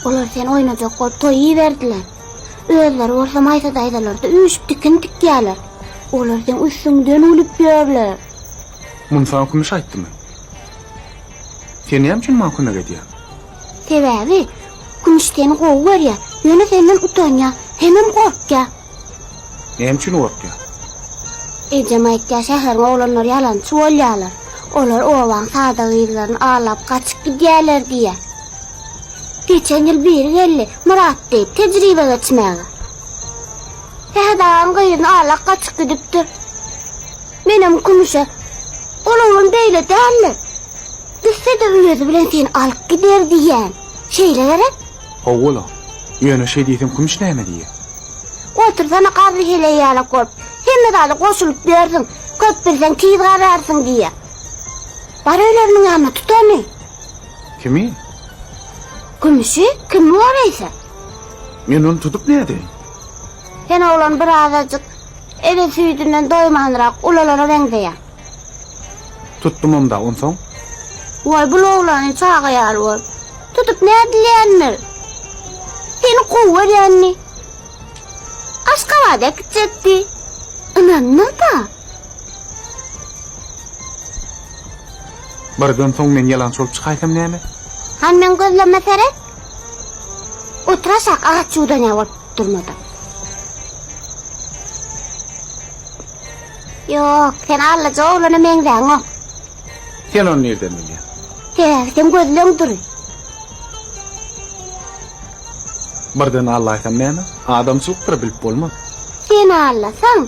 Olar seni oýnajak bolup toý iberdiler. Özleri bolsa Maýsa daýzalarda üýşüp tikin tikýärler. Olar seň üstüňden gülüp ýörler. Munsa Kümüş aýtdymy? Sen näme üçin maňa kömek edýäň? Sebäbi, Kümüş seni gowy görýär, ýöne senden utanýar, hemem gorkýar. Näme üçin gorkýaň? Ejem aýtýar, şäheriň oglanlary ýalançy bolýarlar. Olar obaň sada gyzlaryny alap gaçyp gidýärler diýýär. Geçen ýyl biri geldi, Myrat diýip, tejribe geçmäge. Sähet agaň gyzyny alak gaçyp gidipdir. Menem Kümüşe, Ol oglan beýle däldir. Gitse-de öýüzi bilen seni alyp gider diýýän. Şeýle gerek? Hawa-la. Ýöne şeý diýseň Kümüş näme diýýä? Otursana garry heleý ýaly kop. Hemme zada goşulyp ýörsüň. Köp bilseň tiz gararsyň diýýä. Bar öleriniň ýanyna tut ony. Kimi? Kümüşi? Kim bor eýse? Men ony tutup nädeýin? Sen oglan birazajyk ele süýdünden doýmanrak ulalara meňzeýäň. Tutdumam-da, onsoň? Waý, bul oglany çaga ýaly bolup, tutup nädilýändir? Seni gowy görýändi. Aşgabada äkitjekdi. Ynandyň-da. Birden soň men ýalançy bolup çykaýsam näme? Hany meň gözlerime seret. Otur aşak, agaç ýuwdanýa bolup durmadan. Ýok, sen allyja oglana meňzäňok. Sen ony nirden bilýäň? Sebäbi sen gözleň dury. Birden allaýsam näme? Adamçylykdyr bilip bolmaz. Sen allasaň,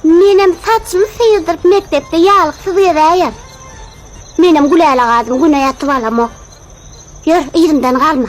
menem saçymy syrdyryp mekdepde ýalyksyz gezäýer. Menem Gülälagazyň güne ýatyp alamok. Ýör, yzymdan galma.